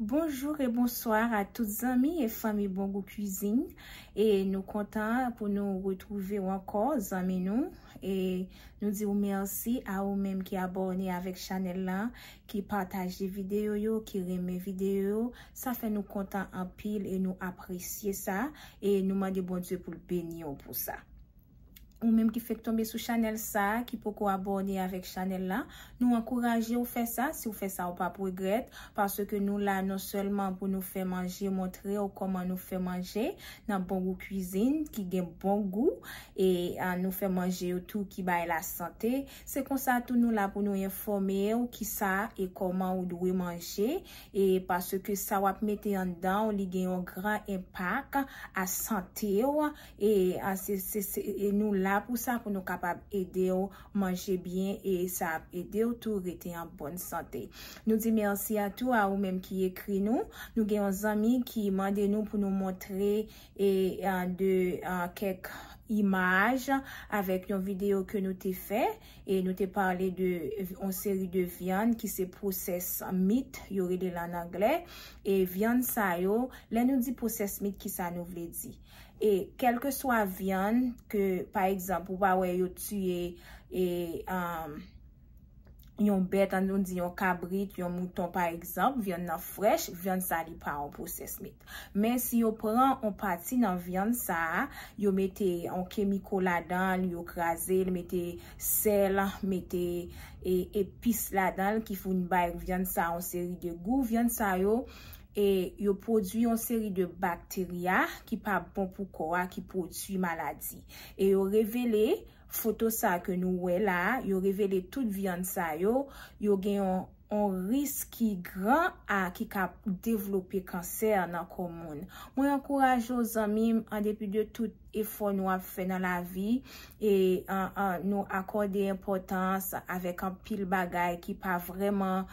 Bonjour et bonsoir a tout zanmi et fanmi Bon Goût Cuisine et nou kontan pou nou retrouve ou anko zanmi nou et nou di ou merci a ou menm ki abone avek chanel lan ki pataje videyo yo, ki renmen videyo yo, sa fè nou kontan anpil e nou apresye sa, e nou mande Bondye pou l beni w pou sa. Ou menm ki fèk tonbe sou chanèl sa, ki poko abòne avèk chanèl la, nou ankouraje w fè sa, si w fè sa ou pap regrèt, paske nou la non sèlman pou nou fè manje, montre w kòman nou fè manje nan Bon Gou Kwizin ki gen bon gou, e nou fè manje yo tou ki bay lasante. Se konsa tou nou la pou nou enfòme w kisa e kòman ou dwe manje e paske sa wap mete anndan w li gen yon gran enpak a sante w e se nou la pou sa pou nou kapab ede w manje byen e sa ap ede w tou rete an bòn sante. Nou di mèsi a tou a ou menm ki ekri nou. Nou gen yon zanmi ki mande nou pou nou montre e de kèk imaj avèk yon video ke nou te fè e nou te pale de yon seri de vyann ki se process meat yo rele l an anglè e vyann sa yo lè nou di process meat ki sa nou vle di e kèlkeswa vyann ke pa egzanp ou va wè yo tiye e yon bèt, an nou di yon kabrit, yon mouton pa egzanp, vyann nan frèch, vyann sa li pa an pwosès mit. Men si yo pran an pati nan vyann sa, yo mete an kemiko ladan l, yo kraze l, mete sèl, mete epis ladan l ki foun bay vyann sa an seri de gou, vyann sa yo, e yo pwodui an seri de bakterya ki pa bon pou kò a, ki pwodui maladi. E yo revele. Foto sa ke nou wè la, yo revele tout vyann sa yo, yo gen yon risk ki gran a ki ka devlope kansè nan kò moun. Mwen ankouraje w zanmi m, an depi de tout efò nou ap fè nan lavi, e nou akòde enpòtans avèk anpil bagay ki pa vrèman,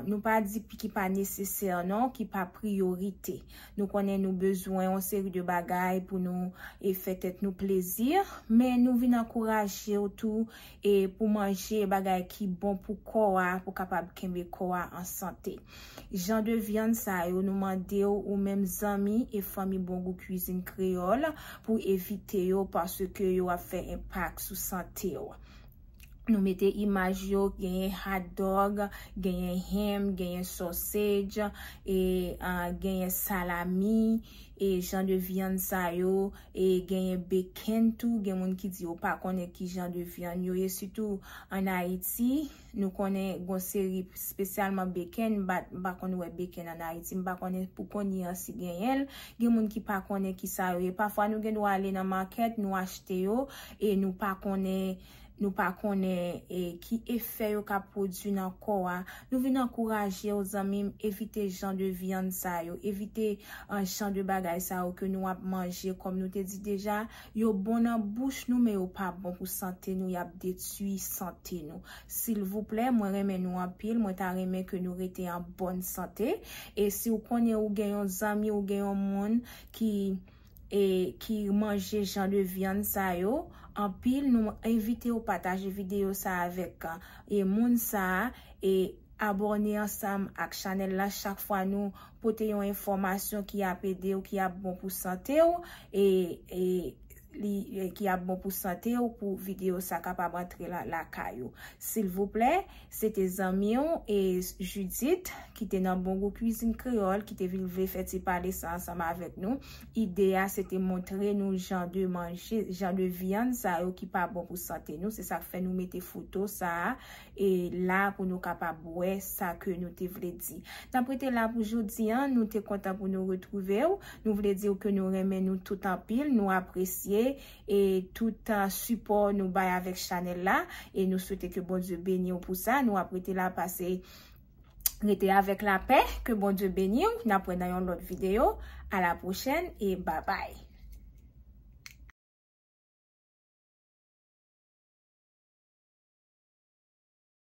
nou pa di ki pa nesesè non, ki pa priyorite. Nou konnen nou bezwen yon seri de bagay pou nou e fè tèt nou plezi, men nou vin ankouraje w tou e pou manje bagay ki bon pou kò a pou kapab kenbe kò a an sante. Jan de vyann sa yo nou mande w ou menm zanmi e fanmi Bon Gou Kwizin Kreyòl pou evite yo paske yo ap fè enpak sou sante w. Nou mete imaj yo, genyen hot dog, genyen ham, genyen sausage, e genyen salami, e jan de vyann sa yo, e genyen bacon tou, gen moun ki di yo pa konnen ki jan de vyann yo ye, sitou an Ayiti, nou konnen gon seri, spesyalman bacon, m pa konn wè bacon an Ayiti, m pa konnen pou kounye an si genyen l, gen moun ki pa konnen ki sa yo ye, pafwa nou gen dwa ale nan market, nou achte yo. e nou pa konnen nou pa konnen e ki efè yo ka pwodui nan kò a, nou vin ankourajew zanmim evite jan de vyann sa yo, evite jan de bagay sa yo ke nou ap manje kòm nou te di deja yo bon nan bouch nou men yo pa bon pou sante nou yap detui sante nou silvouplè mwen renmen nou anpil mwen ta renmen ke nou rete an bòn sante e siw konnen ou gen yon zanmi ou gen yon moun ki e ki manje jan de vyann sa yo anpil nou envite ou pataje video sa avèk e moun sa e abòne ansanm ak chanèl la chak fwa nou pote yon enfòmasyon ki ap ede ou ki ap bon pou sante ou e e li ki ap bon pou sante ou pou video sa kapab antre lakay ou silvouplè Se te zanmi w e Judith ki te nan Bon Gou Kwizin Kreyòl ki te vin vle fè ti pale sa ansanm avèk nou. Ide a se te montre nou jan de manje, jan de vyann sa yo ki pa bon pou sante nou. Se sa k fè nou mete foto sa a e la pou nou kapab wè sa ke nou te vle di. N ap rete la pou jodi an. Nou te kontan pou nou retwouve w. Nou vle di w ke nou renmen nou tout anpil, nou apresye e tout sipò nou bay avèk chanèl la e nou swete ke Bondye beniw pou sa nou ap rete la pase rete avèk lapè ke Bondye beniw nap wè nan yon lòt video a la pwochèn e babay.